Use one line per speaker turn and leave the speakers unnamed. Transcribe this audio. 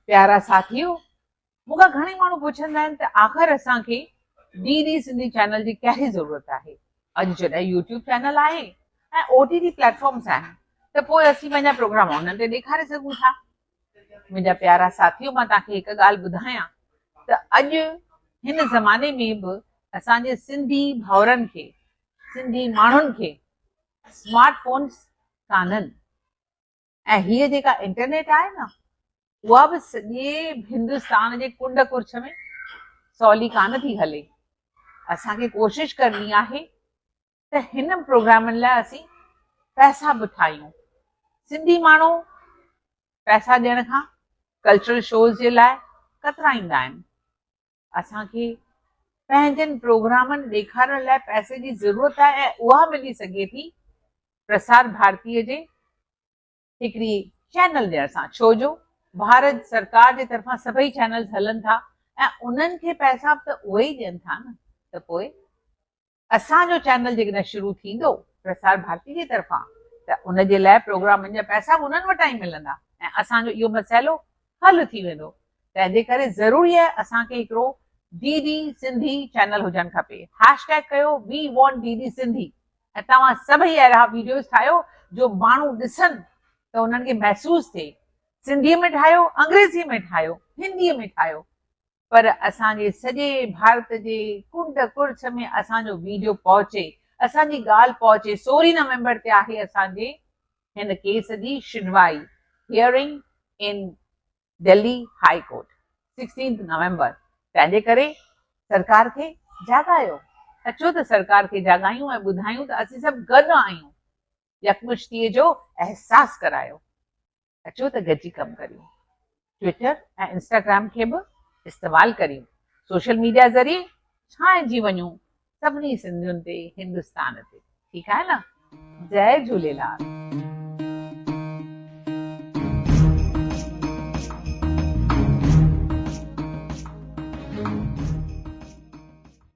پيارا ساٿيو مون کان گهڻي ماڻهو پڇندا آهن ته آخر اسان کي ڊي ڊي سنڌي چينل جي ڪهڙي ضرورت آهي اڄ جڏهن يوٽيوب چينل آهي ۽ او ٽي ٽي پليٽ فارمس آهن ته پوء اسين پنهنجا پروگرام انهن تي ڏيکاري سگهون ٿا منهنجا پيارا ساٿيو مان توهان کي هڪ ڳالهه ٻڌايان ته اڄ هن زماني ۾ به اسان جي سنڌي ڀاورن کي سنڌي ماڻهن کي اسمارٽ فونس ڪانن ۽ هيء جيڪا انٽرنيٽ آهي نه، اها به سڄي هندستان جي ڪنڊ ڪرڇ ۾ سولي ڪانه ٿي هلي. اسان کي ڪوشش ڪرڻي آهي ته هن پروگرامن لاء اسين پئسا به ٺاهيون. سنڌي ماڻهو پئسا ڏيڻ کان ڪلچرل شوز جي لاء ڪترائيندا آهن. اسان کي پنهنجن پروگرامن ڏيکارڻ لاء پئسي جي ضرورت آهي ۽ اها ملي سگهي ٿي پرسار ڀارتي جي هڪڙي چينل ڏيڻ سان ڇو جو ڀارت سرڪار جي طرفان سڀئي چينلز هلن ٿا ۽ انهن کي پئسا به ته اهي ئي ڏين ٿا نه ته پوء اسان جو چينل جيڪڏهن شروع ٿيندو پرسار ڀارتي جي طرفان ته ان جي لاء پروگرامن جا پئسا به انهن وٽان ئي ملندا ۽ اسان جو اهو مسئلو حل ٿي ويندو تنهن جي ڪري ضروري آهي اسان کي هڪڙو ڊي ڊي سنڌي چينل هجڻ کپي هيش ٽيگ ڪيو we want D D Sindhi ۽ توهان سڀئي اهڙا ويڊيوز ٺاهيو جو ماڻهو ڏسن ته انهن کي محسوس ٿئي سنڌي ۾ ٺاهيو انگريزي ۾ ٺاهيو هندي ۾ ٺاهيو پر اسان جي سڄي ڀارت جي ڪنڊ ڪڙڇ ۾ اسان جو ويڊيو پهچي اسان جي ڳالهه پهچي سورهين نومبر تي آهي اسان جي هن ڪيس جي شنوائي Hearing in Delhi high court Sixteenth November تنهنجي ڪري سرڪار کي جاڳايو اچو ته سرڪار کي جاڳايون ۽ ٻڌايون ته اسين سڀ گڏ آهيون يڪمشتيء جو احساس ڪرايو. اچو ته گڏجي ڪم ڪريون. ٽوئيٽر ۽ انسٽاگرام کي به استعمال ڪريون. سوشل ميڊيا ذريعي ڇانئجي وڃون سڀني سنڌين تي هندستان تي. ٺيڪ آهي نه. جئي جهوليلال.